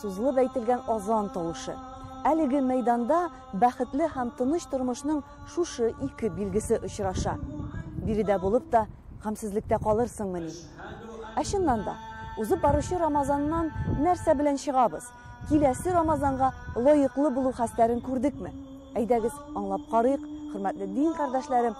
Сузылып әйтелгән азан тавышы. Әлеге мәйданда бәхетле һәм тыныч тормышның шушы ике билгесе очраша. Биредә булып та, гамьсезлектә калырсыңмыни? Ә чыннан да, узып баручы Рамазаннан нәрсә белән чыгабыз? Киләсе Рамазанга лаеклы булу хәстәрен күрдекме? Әйдәгез, аңлап карыйк, хөрмәтле дин кардәшләрем,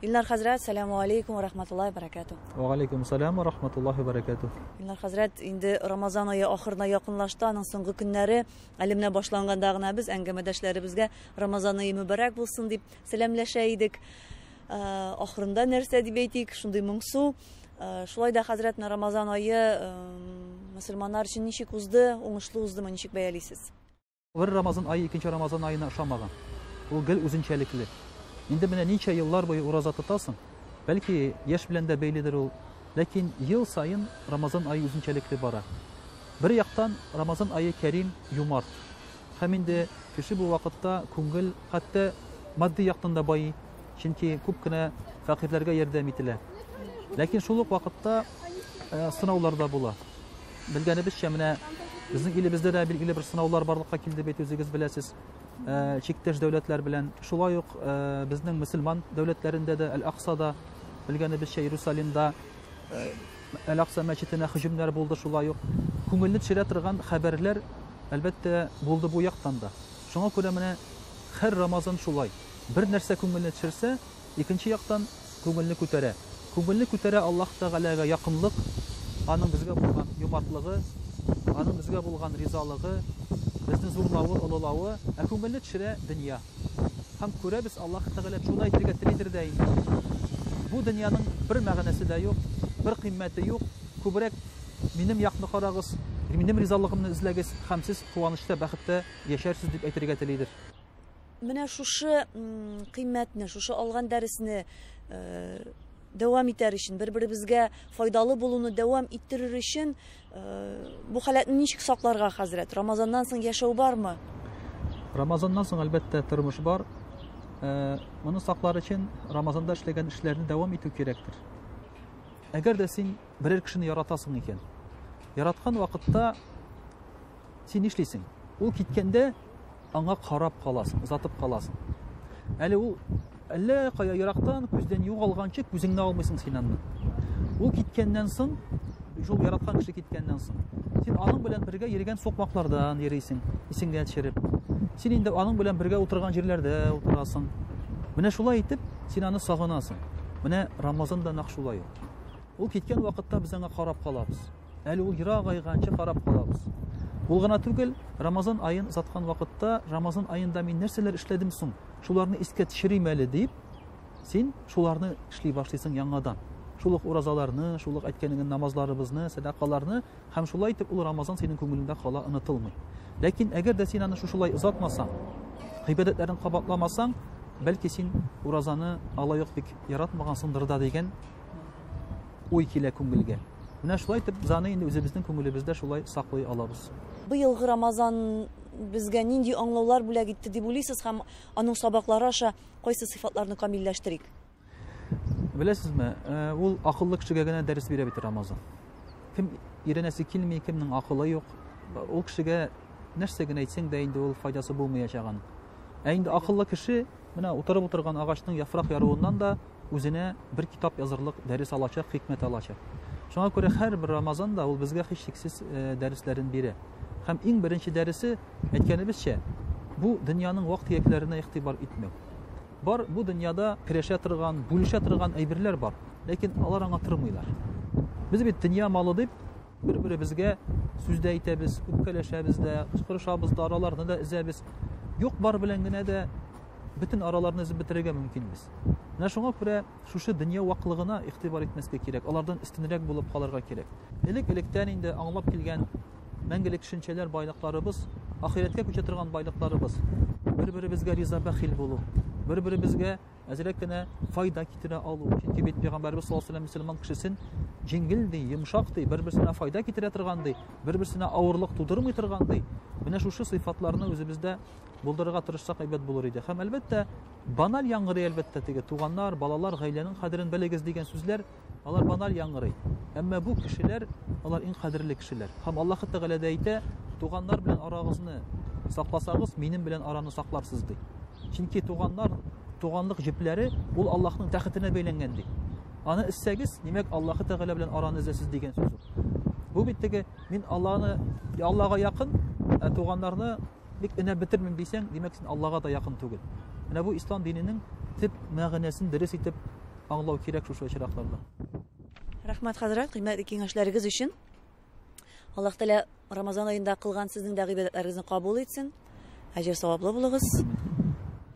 Илнар хәзрәт, сәләму алейкум вә рахматуллаһи вә бәрәкәтүһ. Вә галейкум сәләм вә рахматуллаһи вә бәрәкәтүһ. Илнар хәзрәт, инде Рамазан ае ахырына якынлашты, аның соңгы көннәре, әле менә башланганда гына без әңгәмәдәшләребезгә Рамазан ае мөбарәк булсын дип сәламләшә идек. Ахырында нәрсә дип әйтик, шундый моңсу. Шулай да, хәзрәт, менә Рамазан ае мөселманнар өчен ничек узды, уңышлы уздымы, ничек бәялисез? Бер Рамазан ае икенче Рамазан аена ошамаган. Ул гел үзенчәлекле. Инде менә ничә еллар буе ураза тотасың. Бәлки, яшь белән дә бәйледер ул. Ләкин ел саен Рамазан ае үзенчәлекле бара. Бер яктан, Рамазан ае кәрим, юмарт. Һәм инде кеше бу вакытта күңел, хәтта матди яктан да байый, чөнки күп кенә фәкыйрьләргә ярдәм ителә. Ләкин шул ук вакытта сынаулар да була. Белгәнебезчә, менә безнең илебездә дә билгеле бер сынаулар барлыкка килде бит, үзегез беләсез, э, чиктәш дәүләтләр белән. Шулай ук э, безнең мөселман дәүләтләрендә дә, Әл-Аксада, белгәнебезчә, Иерусалимда э, Әл-Акса мәчетенә һөҗүмнәр булды, шулай ук күңелне төшерә торган хәбәрләр, әлбәттә, булды бу яктан да. Шуңа күрә менә һәр Рамазан шулай. Бер нәрсә күңелне төшерсә, Икенче яктан, күңелне күтәрә. Күңелне күтәрә Аллаһ Тәгаләгә якынлык, Аның безгә булган юмартлыгы, Аның безгә булган ризалыгы, безне зурлавы, олылавы, ә күңелне төшерә дөнья. Һәм күрәбез, Аллаһ Тәгалә шуны әйтергә телидер дә инде. Бу дөньяның бер мәгънәсе дә юк, бер кыйммәте юк, күбрәк минем якны карагыз, минем ризалыгымны эзләгез, һәм сез куанычта, бәхеттә яшәрсез, дип әйтергә телидер. Менә шушы кыйммәтне, шушы алган дәресне дәвам итәр өчен, бер-беребезгә файдалы булуны дәвам иттерер өчен бу халәтне ничек сакларга, хәзрәт? Рамазаннан соң яшәү бармы? Рамазаннан соң, әлбәттә, тормыш бар. Э, моны саклар өчен рамазанда эшләгән эшләрне дәвам итү кирәктер әгәр дә син берәр кешене яратасың икән яраткан вакытта син нишлисең ул киткәндә Аңа карап каласың, озатып каласың. Әле ул әллә кая ерактан күздән югалганчы күзеңне алмыйсың син аннан. Ул киткәннән соң, шул яраткан кеше киткәннән соң, син аның белән бергә йөргән сукмаклардан йөрисең, исеңгә төшереп. Син инде аның белән бергә утырган җирләрдә утырасың. Менә шулай итеп, син аны сагынасың. Менә Рамазан да нәкъ шулай ул. Ул киткән вакытта без аңа карап калабыз. Әле ул ерак айганчы карап калабыз. Ул гына түгел, Рамазан аен озаткан вакытта, Рамазан аенда мин нәрсәләр эшләдем соң? Шуларны искә төшерим әле дип, син шуларны эшли башлыйсың яңадан. Шул ук уразаларны, шул ук әйткәнеңне намазларыбызны, сәдакаларны һәм шулай итеп ул Рамазан синең күңелеңдә кала онытылмый. Ләкин әгәр дә син аны шушылай озатмасаң, гыйбадәтләрен кабатламасаң, бәлки син уразаны алай ук бик яратмагансыңдыр да дигән Уй килә күңелгә. Менә шулай итеп, Заны инде үзебезнең күңелебездә шулай саклый алабыз. Быелгы Рамазан безгә нинди аңлаулар бүләк итте дип уйлыйсыз һәм аның сабаклары аша кайсы сыйфатларны камилләштерик? Беләсезме, ул акыллы кешегә генә дәрес бирә бит Рамазан. Кем өйрәнәсе килми, кемнең акылы юк, ул кешегә нәрсә генә әйтсәң дә инде ул файдасы булмаячак аның. Ә инде акыллы кеше Менә утырып утырган агачның яфрак яруыннан да үзенә бер китап язырлык дәрес алачак, хикмәт алачак. Шуңа күрә һәрбер Рамазан да ул безгә һичшиксез э, дәресләрен бирә. Һәм иң беренче дәресе, әйткәнебезчә, бу дөньяның вак-төякләренә игътибар итмәү. Бар бу дөньяда керәшә торган, бүлешә торган әйберләр бар, ләкин алар аңа тормыйлар. Без бит дөнья малы дип, Бер-беребезгә сүз дә әйтәбез, үпкәләшәбез дә, кычкырышабыз да, араларны да өзәбез. Юк бар белән генә дә бөтен араларны өзеп бетерергә мөмкин без. Менә шуңа күрә шушы дөнья ваклыгына игътибар итмәскә кирәк, алардан өстенрәк булып калырга кирәк. Элек-электән инде аңлап килгән мәңгелек төшенчәләр байлыкларыбыз, ахирәткә күчә торган байлыкларыбыз. Бер-беребезгә риза бәхил булу, бер-беребезгә әзрәк кенә файда китерә алу. Чөнки бит пәйгамбәрбез саллаллаһу алейһи ва сәлләм мөселман кешесен җиңел ди, йомшак ди, бер-берсенә файда китерә торган ди, бер-берсенә авырлык тудырмый торган ди. Менә шушы сыйфатларны үзебездә булдырырга тырышсак әйбәт булыр иде. Һәм әлбәттә, баналь яңгырый әлбәттә теге туганнар, балалар, гаиләнең кадерен белегез дигән сүзләр Алар баналь яңгырый. Әмма бу кешеләр, алар иң кадерле кешеләр. Һәм Аллаһ Тәгалә дә әйтә, туганнар белән арагызны сакласагыз, минем белән араны сакларсыз ди. Чөнки туганнар, туганлык җепләре ул Аллаһның тәхетенә бәйләнгән ди. Аны эзсәгез, димәк, Аллаһ Тәгалә белән араны эзләсез дигән сүз. Бу бит теге мин Алланы Аллага якын, ә туганнарны Бик өнәп бетермим дисәң, димәк син Аллага да якын түгел. Менә бу ислам диненең төп мәгънәсен дөрес итеп аңлау кирәк шушы очракларда. Рәхмәт хәзрәт, кыйммәтле киңәшләрегез өчен. Аллаһ Тәгалә Рамазан аенда кылган сезнең дә гыйбадәтләрегезне кабул итсен. Әҗер саваплы булыгыз.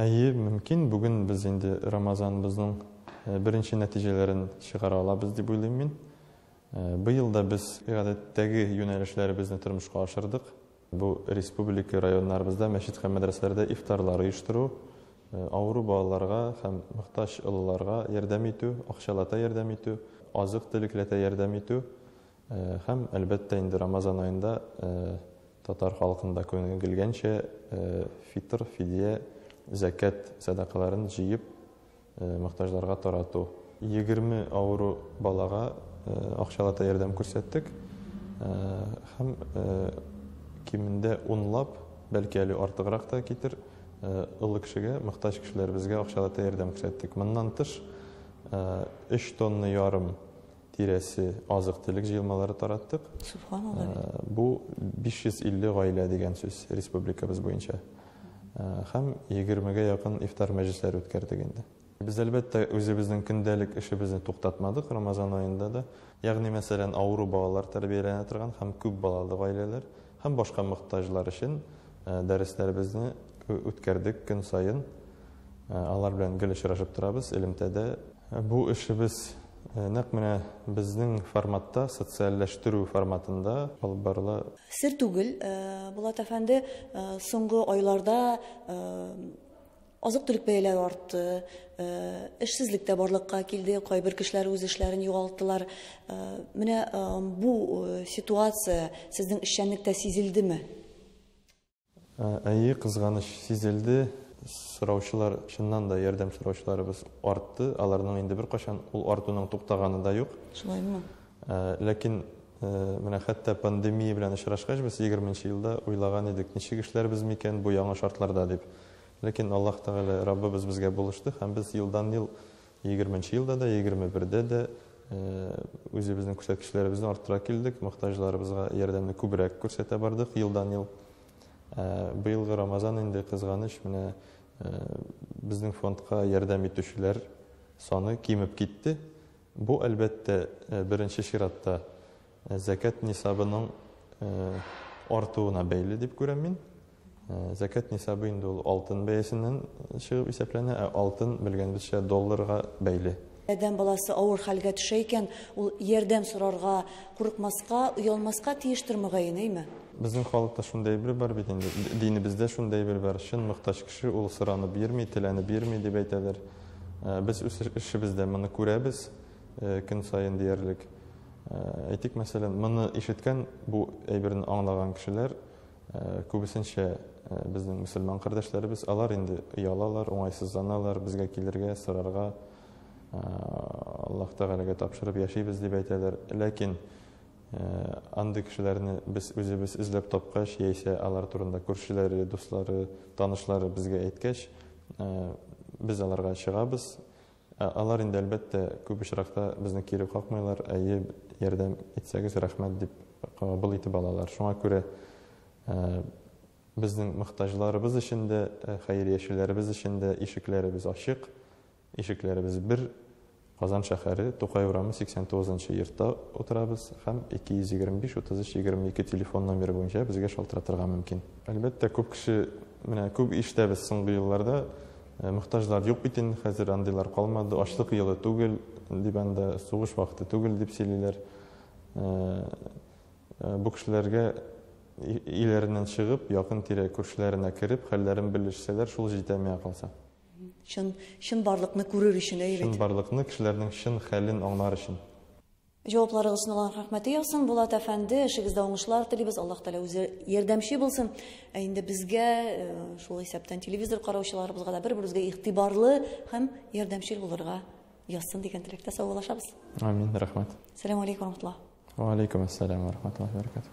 Әйе, мөмкин, бүген без инде Рамазаныбызның беренче нәтиҗәләрен чыгара алабыз дип уйлыйм мин. Быел да без гадәттәге юнәлешләребезне тормышка ашырдык. Бу республика районнарыбызда мәчет һәм мәдрәсәләрдә ифтарлар оештыру, авыру балаларга һәм мохтаҗ олыларга ярдәм итү, акчалата ярдәм итү, азык-төлекләтә ярдәм итү, Һәм, әлбәттә, инде Рамазан аенда татар халкында күнегелгәнчә фитр, фидия, зәкят сәдакаларын җыеп мохтаҗларга тарату. Егерме авыру балага акчалата ярдәм күрсәттек һәм кимендә унлап, бәлки әле артыграк та китер, олы кешегә, мохтаҗ кешеләребезгә акчалата ярдәм күрсәттек. Моннан тыш, өч тонна ярым тирәсе азык-төлек җыелмалары тараттык. Субханалла. Э, бу 550 гаилә дигән сүз республикабыз буенча. Э, һәм 20-гә якын ифтар мәҗлесләре үткәрдек инде. Без әлбәттә үзебезнең көндәлек эшебезне туктатмадык Рамазан аенда да. Ягъни, мәсәлән, авыру балалар тәрбияләнә торган һәм күп балалы гаиләләр, һәм башка мохтаҗлар өчен дәресләребезне үткәрдек көн саен. Алар белән гел очрашып торабыз элемтәдә. Бу эшебез нәкъ менә безнең форматта, социальләштерү форматында алып барыла. Сер түгел, Булат әфәнде, соңгы айларда Азык-төлек бәяләре артты, эшсезлек тә барлыкка килде, кайбер кешеләр үз эшләрен югалттылар. Менә бу ситуация сезнең эшчәнлектә сизелдеме? Әйе, кызганыч, сизелде. Сораучылар, чыннан да, ярдәм сораучыларыбыз артты. Аларның инде беркайчан ул артуның туктаганы да юк. Шулаймы? Ләкин менә хәтта пандемия белән очрашкач, без егерменче елда уйлаган идек, ничек эшләрбез микән бу яңа шартларда дип. Ләкин Аллаһ Тәгалә, Раббыбыз безгә булышты һәм без елдан-ел, егерменче елда да, егерме бердә дә үзебезнең күрсәткечләребезне арттыра килдек, мохтаҗларыбызга ярдәмне күбрәк күрсәтә бардык елдан-ел. Быелгы Рамазан инде, кызганыч, менә безнең фондка ярдәм итүчеләр саны кимеп китте. Бу, әлбәттә, беренче чиратта зәкят нисабының артуына бәйле дип күрәм мин. Зәкят нисабы инде ул алтын бәясеннән чыгып исәпләнә, ә алтын, белгәнебезчә, долларга бәйле. Адәм баласы авыр хәлгә төшә икән, ул ярдәм сорарга курыкмаска, оялмаска тиештер, мөгаен, әйме? Безнең халыкта шундый әйбер бар бит инде, динебездә шундый әйбер бар, чын мохтаҗ кеше, ул соранып йөрми, теләнеп йөрми, дип әйтәләр. Э, без үз эшебездә моны күрәбез э, көн саен диярлек э, әйтик мәсәлән моны ишеткән бу әйберне аңлаган кешеләр күбесенчә безнең мөселман кардәшләребез алар инде оялалар уңайсызланалар безгә килергә сорарга аллаһ тәгаләгә тапшырып яшибез дип әйтәләр ләкин Андый кешеләрне без үзебез эзләп тапкач, яисә алар турында күршеләре, дуслары, танышлары безгә әйткәч, без аларга чыгабыз. Алар инде, әлбәттә, күп очракта безне кире какмыйлар, әйе, ярдәм итсәгез, рәхмәт дип кабул итеп алалар. Шуңа күрә безнең мохтаҗларыбыз өчен дә, хәйриячеләребез өчен дә ишекләребез ачык. Ишекләребез бер, Казан шәһәре, Тукай урамы, 89 нчы йортта утырабыз һәм 225 33 22 телефон номеры буенча безгә шалтыратырга мөмкин. Әлбәттә, күп кеше, менә күп ишетәбез соңгы елларда, мохтаҗлар юк бит инде хәзер, андыйлар калмады, ачлык елы түгел, дип анда сугыш вакыты түгел, дип сөйлиләр. Бу кешеләргә өйләреннән чыгып, якын-тирә күршеләренә кереп, хәлләрен белешсәләр, шул җитә миңа калса. Чын, чынбарлыкны күрер өчен, әйе бит. Чынбарлыкны, кешеләрнең чын хәлен аңлар өчен. Җавапларыгыз өчен Аллаһ рәхмәте яусын, Булат әфәнде, эшегездә уңышлар телибез, Аллаһ Тәгалә үзе ярдәмче булсын. Ә инде безгә, э, шул исәптән телевизор караучыларыбызга да бер-беребезгә игътибарлы һәм ярдәмчел булырга язсын дигән теләктә саубуллашабыз. Амин, рәхмәт. Сәлам алейкум, рахматуллаһ. Ва алейкум ассалам, рахматуллаһи баракатух.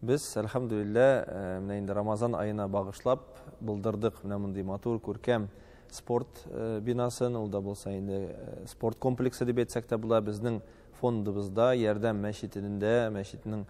Без, әлхәмдүлиллә, э, менә инде Рамазан аена багышлап булдырдык менә мондый матур, күркәм спорт э, бинасын. Ул да булса инде э, спорт комплексы дип әйтсәк тә була. Безнең фондыбызда Ярдәм мәчетендә, мәчетнең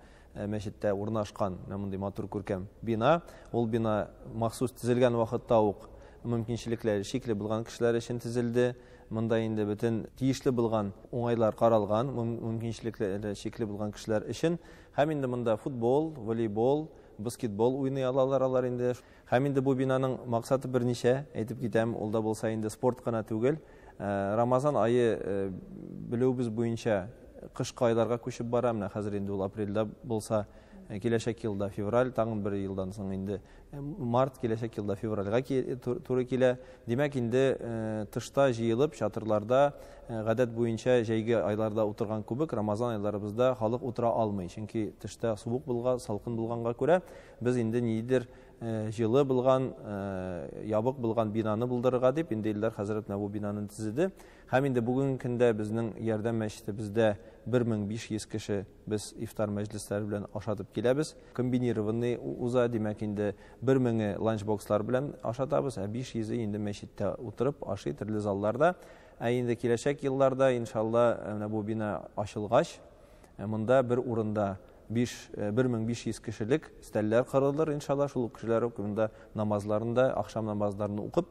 мәчеттә урнашкан менә мондый матур күркәм бина. Ул бина махсус төзелгән вакытта ук мөмкинчелекләре шикле булган кешеләр өчен төзелде. Монда инде бөтен тиешле булган уңайлар каралган, мөмкинчелекләре шикле булган кешеләр өчен Һәм инде монда футбол, волейбол, баскетбол уйный алалар алар инде. Һәм инде бу бинаның максаты берничә, әйтеп китәм, ул да булса инде спорт кына түгел. Рамазан ае белүебез буенча кышкы айларга күчеп бара, менә хәзер инде ул апрельдә булса, киләчәк елда февраль, тагын бер елдан соң инде Март киләчәк елда февральга туры килә. Димәк, инде э, тышта җыелып, чатырларда э, гадәт буенча җәйге айларда утырган күбек Рамазан айларыбызда халык утыра алмый. Чөнки тышта суык булга, салкын булганга күрә без инде нидер э, җылы булган, ябык булган бинаны булдырырга дип инде Илдар хәзрәт менә бу бинаны төзеде. Һәм инде бүгенге көндә безнең Ярдәм мәчете бездә 1500 кеше Без ифтар мәҗлесләре белән ашатып киләбез. Комбинированный уза, димәк, инде бер меңе ланчбокслар белән ашатабыз, ә 500-е инде мәчеттә утырып ашый, төрле залларда. Ә инде киләчәк елларда, иншалла, э, менә бу бина ачылгач, э, монда бер урында 5 1500 э, кешелек стәлләр кырылыр, иншалла, шул ук кешеләр монда намазларын да, ахшам намазларын укып,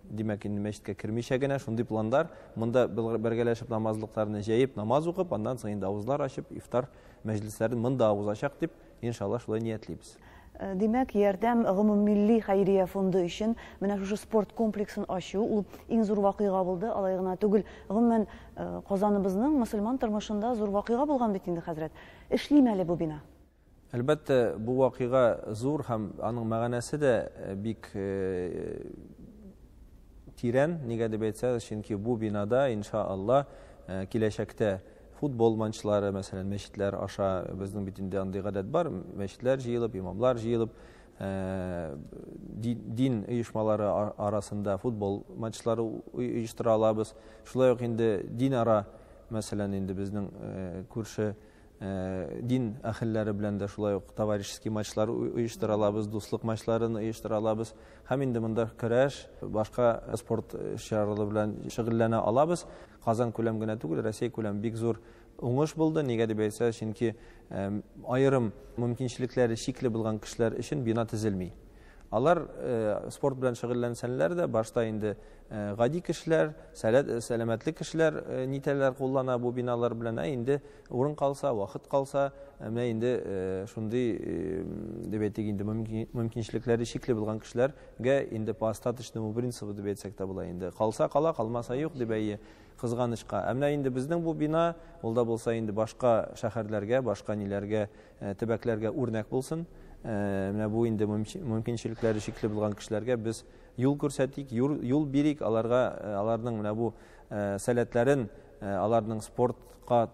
Димәк, инде мәчеткә кермичә генә шундый пландар. Монда бергәләшеп намазлыкларны җәеп, намаз укып, аннан соң инде авызлар ачып, ифтар мәҗлесләрен монда узачак дип, иншалла, шулай ниятлибез. Э, димәк, ярдәм гомуммилли хәйрия фонды өчен менә шушы спорт комплексын ачу ул иң зур вакыйга булды, алай гына түгел. Гомумән, э, Казаныбызның мөселман тормышында зур вакыйга булган бит инде, хәзрәт. Эшлиме әле бу бина? Әлбәттә, бу вакыйга зур һәм аның мәгънәсе дә бик тирән, нигә дип әйтсәгез, чөнки бу бинада, инша Алла, киләчәктә футбол матчлары, мәсәлән, мәчетләр аша, безнең бит инде андый гадәт бар, мәчетләр җыелып, имамлар җыелып, Э, дин оешмалары арасында футбол матчлары оештыра алабыз. Шулай ук инде дин ара, мәсәлән, инде безнең э, күрше дин әхелләре белән дә шулай ук товарищеский матчлар оештыра алабыз, дуслык матчларын оештыра алабыз. Һәм инде монда көрәш, башка спорт чаралары белән шөгыльләнә алабыз. Казан күләм генә түгел, Россия күләм бик зур уңыш булды. Нигә дип әйтсә, чөнки аерым мөмкинчелекләре чикле булган кешеләр өчен бина төзелми. Алар спорт белән шөгыльләнсәләр дә, башта инде Э, гади кешеләр сәләт э, сәламәтле кешеләр э, нитәләр куллана бу биналар белән ә инде урын калса вакыт калса менә инде шундый дип әйтик инде мөмкинчелекләре чикле булган кешеләргә инде по остаточному принципу дип әйтсәк тә була инде калса кала калмаса юк дип әйе кызганычка ә менә инде безнең бу бина ул да булса инде башка шәһәрләргә башка ниләргә төбәкләргә үрнәк булсын менә бу инде мөмкинчелекләре чикле булган кешеләргә без Юл күрсәтик, юл бирик аларга, аларның менә бу сәләтләрен, аларның спортка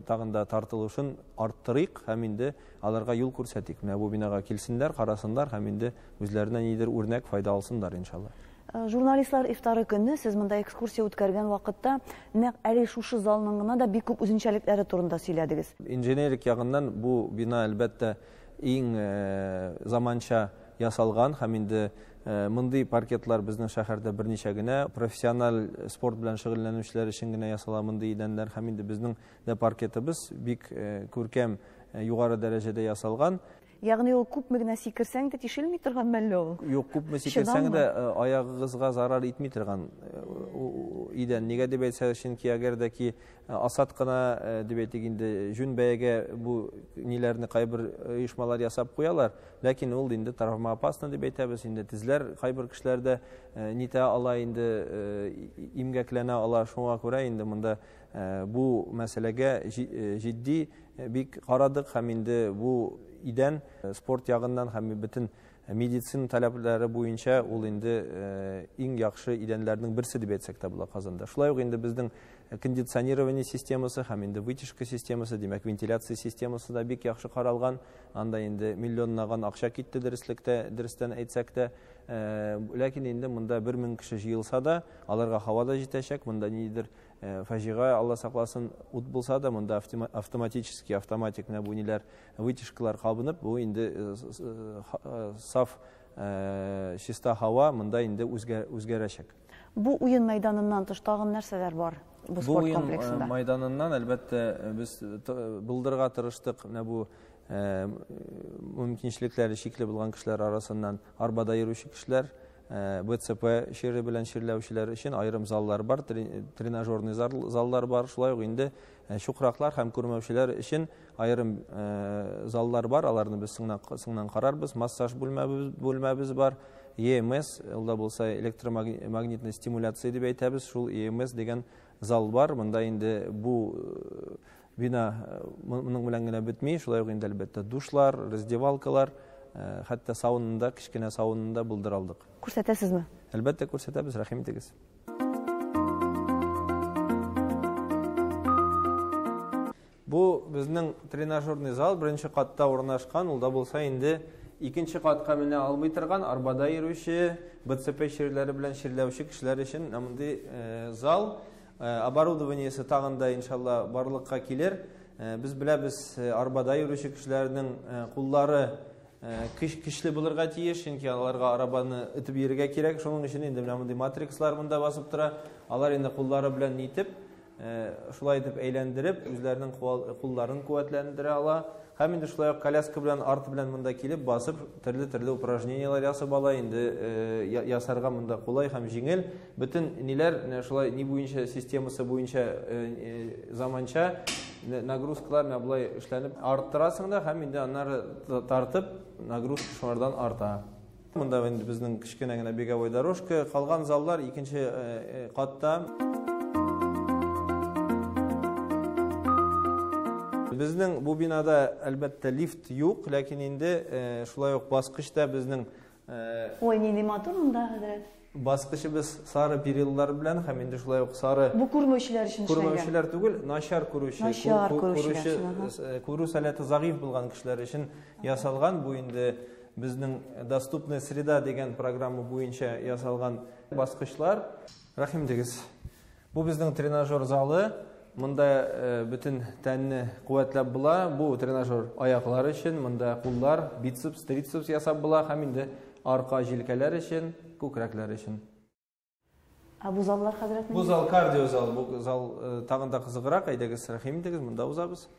тагын да тартылышын арттырыйк һәм инде аларга юл күрсәтик. Менә бу бинага килсеннәр, карасыннар һәм инде үзләренә нидер үрнәк файда алсыннар, иншалла. Журналистлар ифтары көнне сез монда экскурсия үткәргән вакытта нәкъ әле шушы залның гына да бик күп үзенчәлекләре турында сөйләдегез. Инженерик ягыннан бу бина, әлбәттә, иң заманча. ясалган һәм инде мондый паркетлар безнең шәһәрдә берничә генә профессиональ спорт белән шөгыльләнүчеләр өчен генә ясала мондый идәннәр һәм инде безнең дә паркетыбыз бик күркәм югары дәрәҗәдә ясалган Ягъни ул күпме генә сикерсәң дә тишелми торган мәлле ул? Юк, күпме сикерсәң дә э, аягыгызга зарар итми торган э, идән. Нигә дип әйтсә, чөнки әгәр дә ки Э, асад кына э, дип әйтик инде җүн бәягә бу ниләрне кайбер э, оешмалар ясап куялар ләкин ул инде травмоопасно дип әйтәбез инде тезләр кайбер кешеләрдә нитә ала инде имгәкләнә ала шуңа күрә инде монда бу мәсьәләгә җитди бик карадык һәм инде бу идән спорт ягыннан һәм бөтен Медицина таләпләре буенча ул инде иң яхшы идәннәрнең берсе дип әйтсәк тә була Казанда. Шулай ук инде безнең кондиционирование системасы һәм инде вытяжка системасы, димәк, вентиляция системасы да бик яхшы каралган. Анда инде миллионнаган акча китте дөреслектә, дөрестән әйтсәк тә. Ләкин инде монда 1000 кеше җыелса да, аларга һава да җитәчәк, монда нидер фаҗига, Алла сакласын, ут булса да, монда автоматически, автоматик менә бу ниләр Вытяжкалар кабынып, бу инде саф чиста һава монда инде үзгәрәчәк. Бу уен мәйданыннан тыш тагын нәрсәләр бар бу спорт э, комплексында? Бу мәйданыннан әлбәттә э, без э, булдырга тырыштык менә бу мөмкинчелекләре чикле булган кешеләр арасыннан арбада йөрүче кешеләр, БЦП чире белән чирләүчеләр өчен аерым заллар бар, тренажерный заллар бар. Шулай ук инде Ә чукраклар һәм күрмәүчеләр өчен аерым заллар бар, аларны без соңнан карарбыз. Массаж бүлмәбез бар, EMS, ул да булса электромагнитный стимуляция дип әйтәбез, шул EMS дигән зал бар. Монда инде бу бина моның белән генә бетми, шулай ук инде әлбәттә душлар, раздевалкалар, хәтта саунында, кечкенә саунында булдыралдык. Күрсәтәсезме? Әлбәттә күрсәтәбез, рәхим итегез. Бу безнең тренажерный зал беренче катта урнашкан, ул да булса инде икенче катка менә алмый торган, арбада йөрүче, БЦП чирләре белән чирләүче кешеләр өчен мондый э, зал э, оборудованиесе тагын да иншалла барлыкка килер. Э, без беләбез, арбада йөрүче кешеләрнең куллары Көч көчле булырга тиеш, чөнки аларга арабаны итеп йөрергә кирәк. Шуның өчен инде менә мондый матрикслар монда басып тора. Алар инде куллары белән нитеп, шулай итеп әйләндереп, үзләренең кулларын куәтләндерә ала. Һәм инде шулай ук коляска белән арт белән монда килеп басып, төрле-төрле упражненияләр ясап ала. Инде ясарга монда кулай һәм җиңел. Бөтен ниләр менә шулай ни буенча системасы буенча заманча нагрузкалар менә болай эшләнеп арттырасың да һәм инде аннары тартып нагрузка шулардан арта. Монда инде безнең кечкенә генә беговой дорожка, калган заллар икенче катта. Безнең бу бинада әлбәттә лифт юк, ләкин инде шулай ук баскычта безнең Ой, нинди матур монда, хәзрәт. Баскычыбыз сары периллар белән һәм инде шулай ук сары Бу күрмәүчеләр өчен эшләнгән. Күрмәүчеләр түгел, начар күрүче, начар күрүче, э, күрү сәләте загыйф булган кешеләр өчен ясалган. Бу инде безнең доступная среда дигән программа буенча ясалган баскычлар. Рәхим дигез. Бу безнең тренажер залы. Монда бөтен тәнне куәтләп була. Бу тренажер аяклар өчен, монда куллар, бицепс, трицепс ясап була һәм инде арка җилкәләр өчен, күкрәкләр өчен. Ә бу заллар хәзрәт? Бу зал кардио зал. Бу зал тагын да кызыграк. Әйдәгез, рәхим итегез, монда узабыз.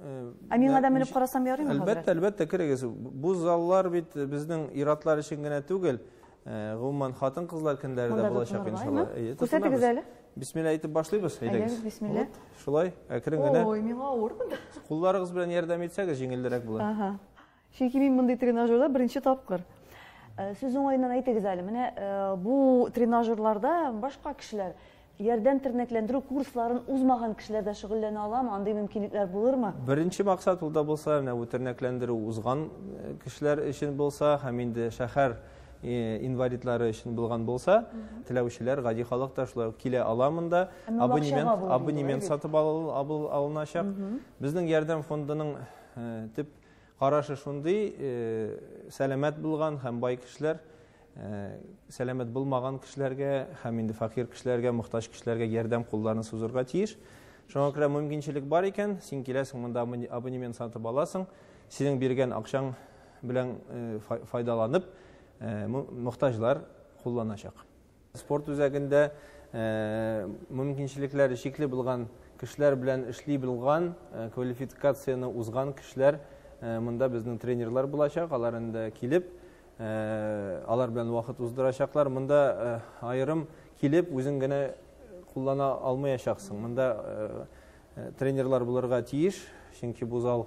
Ә миңа да менеп карасам ярыймы хәзер? Әлбәттә, әлбәттә керегез. Бу заллар бит безнең иратлар өчен генә түгел. Э, гомумән, хатын-кызлар көндәре дә булачак иншалла. Күрсәтегез әле. Бисмилла әйтеп башлыйбыз, әйдәгез. Әйдәгез, бисмилла. Шулай, әкрен генә. Ой, миңа авыр монда. Кулларыгыз белән ярдәм итсәгез, җиңелдерәк була. Ага. Чөнки мин мондый тренажерда беренче тапкыр. Э, сүз уңаеннан әйтегез әле, менә э, бу тренажерларда башка кешеләр ярдәм тернәкләндерү курсларын узмаган кешеләр дә шөгыльләнә аламы? Андый мөмкинлекләр булырмы? Беренче максат ул да булса, менә бу тернәкләндерү узган э, кешеләр өчен булса һәм инде шәһәр инвалидлары өчен булган булса, теләүчеләр, гади халык та шулай килә ала монда. Абонемент, абонемент сатып алыначак. Безнең ярдәм фондының төп Карашы шундый сәламәт булган һәм бай кешеләр сәламәт булмаган кешеләргә һәм инде факир кешеләргә, мохтаҗ кешеләргә ярдәм кулларын сузырга тиеш. Шуңа күрә мөмкинчелек бар икән, син киләсең монда абонемент сатып аласың, синең биргән акчаң белән файдаланып, мохтаҗлар кулланачак. Спорт үзәгендә мөмкинчелекләре чикле булган кешеләр белән эшли белган, квалификацияне узган кешеләр монда безнең тренерлар булачак. Алар инде килеп, алар белән вакыт уздырачаклар. Монда аерым килеп, үзең генә куллана алмаячаксың. Монда тренерлар булырга тиеш, чөнки бу зал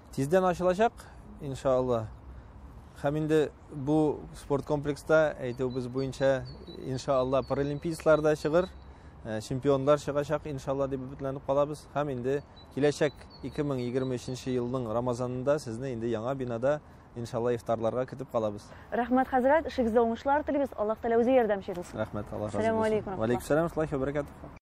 Тиздән ачылачак, иншалла. Һәм инде бу спорт комплекста әйтүебез буенча, иншалла, паралимпийцлар да чыгыр, э, чемпионлар чыгачак, иншалла, дип өметләнеп калабыз. Һәм инде киләчәк 2023 елның Рамазанында сезне инде яңа бинада иншалла ифтарларга көтеп калабыз. Рәхмәт, хәзрәт, эшегездә уңышлар телибез. Аллаһ Тәгалә үзе ярдәмчегез. Рәхмәт, Аллаһ разы булсын. Ва алейкум сәлам, ва баракатуһ.